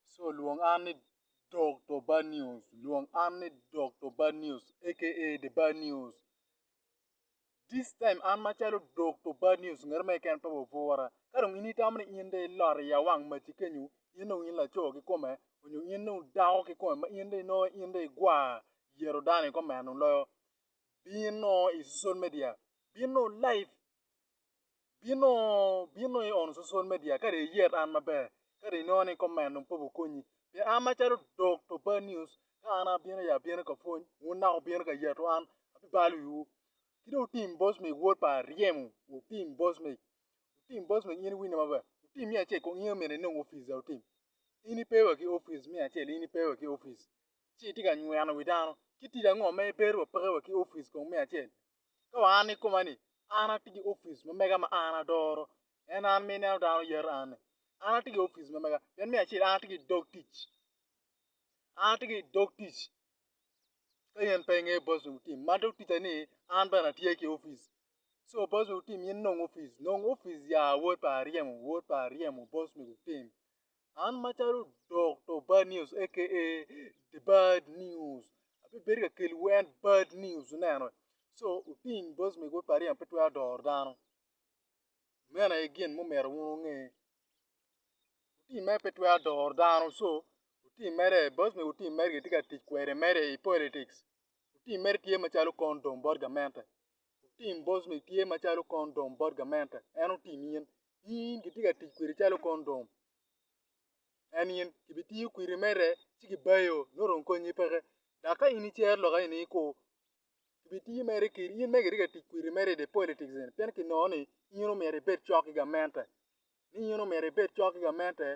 So lwong an ni Dokto Bad News, lwong an ni Dokto Bad News aka The Bad News. This time an macalo Dokto Bad News ngat mo keken pe wa obwora. Ka dong in itamo ni in dong ilot i awang maci kenyo, in dong in laco kikome nyo in dong dako kikome ma in dong inongo in dong igwar yero dano i kome loyo, bin nongo i social media, bin nongo live. Bin nongo i on social media ka dong iyet an maber ka dong inongo ni comment dong pe gukonyi. Pien an macalo dog to bad news ka an abino aye abino ka pwony wun naka wubino ka yeto an abibalo wiwu. Ki dong wutim bos meg wod pa aryemo wutim bos meg wutim bos meg in iwinne maber wutim miya acel kong in aye omyero inong opic dong wutim. In ipe wa ki opic me acel in ipe wa ki opic ci itye ka nyweno wi dano ci tic ango ma ibedo wa peke wa ki opic kong me acel Ka wa an i koma ni, an atye ki opic ma mega ma an adoro, en an ma ineno dano yero an-ni. An atye ki opic ma mega, pien me acel an atye ki dog tic, an atye ki dog tic ka in pe ingeyo boss me tim ma dog tica ni an bene atye ki opic. Co boss me tim in nong opic, nong opic ya wod pa aryemo, wod pa aryemo boss me tim. An macalo Dokto Bad News aka The Bad News abibedo ka kelliwu en bad news ineno. Co oting boc me gwok pa aryo pe twero doro dano. Meno aye gin mumito wun wunge. Oting mere pe twero doro dano co oting mere boc mego oting mere kitye ka tic kwede mere i politics. Oting mere tye macalo condom bot gamente. Otim boss ni tye macalo condom bot gamente en otim in in kitye ka tic kwede calo condom en in kibitiyo kwiri mere ci kibayo nongo dong konyi peke dok ka in icero lok eni iku kibitiyo mere kiri in mere kitye ka tic kwiri mere idi politics eni pien kinongo ni in omyero ibed cok ki gamente ni in omyero ibed cok ki gamente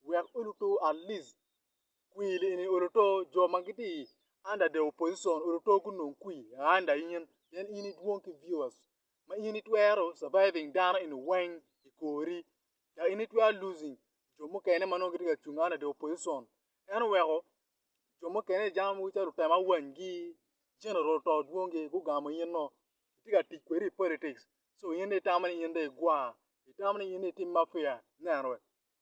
wek olutu at least kwir eni oluto jo ma gitye i under the opposition oluto gunong kwir under in pien in idwong ki viewers ma in itwero surviving dano eni weng i kori dok in itwero losing jo mukene ma nongo gitye ka cung under the opposition en oweko jo mukene i jami mogo calo lutemo awanygi general to dwong gi gugamo in-o itye ka tic kwedi i politics so in dong itamo ni in dong igwar itamo ni in dong itim mafia neno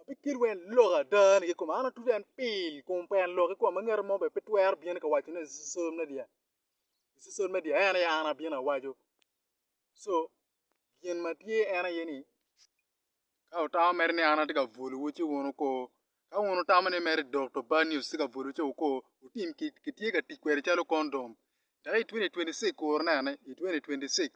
Abikelo en lok ada ni kikome, an atuco en pil kun pe en lok kikome, ngat mo bene pe twero bino ni ka waco ne i social media, i social media en aye an abino awaco, so gin ma tye en aye ni ka wutamo mere ni an atye ka bwolowu ci wun wuko, ka wun wutamo ni mere dok to bad news tye ka bwolowu ci wuko, wutim kit, kitye ka tic kwede calo condom, dok i twenty twenty six kur nene, i twenty twenty six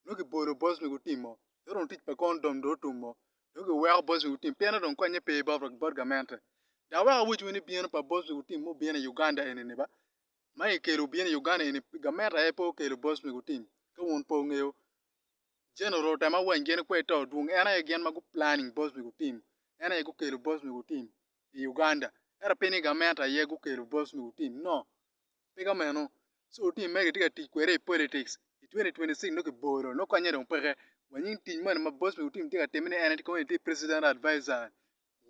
nongo kibolo bot ma gutimo ci dong tic pa kon dong otumo nongo kiweko bot ma gutimo pienno dong konye pe bot gamente dok wek awoc wene bino pa bot ma gutimo ma obino i Uganda eni ba ma kikelo obino i Uganda eni gamente aye pe okelo bot ma gutim ka wun pe wungeyo General otemo wany gin kwer ito dwong en aye gin ma gu planning bot ma gutim en aye gukelo bot ma gutim i Uganda ento pe ni gamente aye gukelo bot ma gutim no pe ka meno so otii magi itye ka tic kwede i politics i 2026 nongo kibolo nongo konye dong peke wa nying tic moni ma boss me otim tye ka time ni en aye kono tye president advisor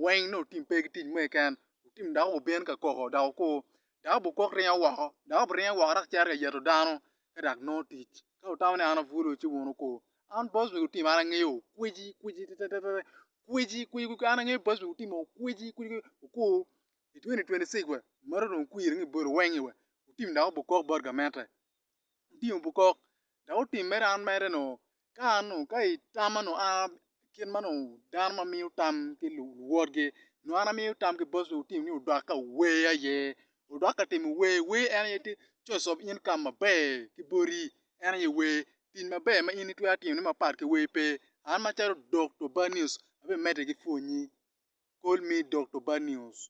weng nongo otim pe ki tic mo keken otim dako obin ka koko dok okur dako bene okok ringo woko dako bene ringo woko dok cito ka yeto dano ka dok nongo tic ka wutamo ni an abwolo ci wun wukur an boss me otim an angeyo kweci kweci tetetetete kweci kweci an angeyo boss me otim-mi kweci kweci okur I 2026 wa, marot wun kwiri ngi bot owengi wa, wutim dok wubuk kok bot gamette. Wutim wubuk kok, dok wutim mere an mere noo, ka an noo, ka itama noo an kit ma noo dano ma miyo tam ki luwotgi, noo an amiyo tam ki bot wutim ni wudok ka wuwer aye, wudok ka timo wer, wer en aye tye source of income maber ki boti, en aye wer, Tic maber ma in itwero timone mapat ki wer pe. An macalo Dokto Bad News abimedde ki pwonyi. Call me Dokto Bad News.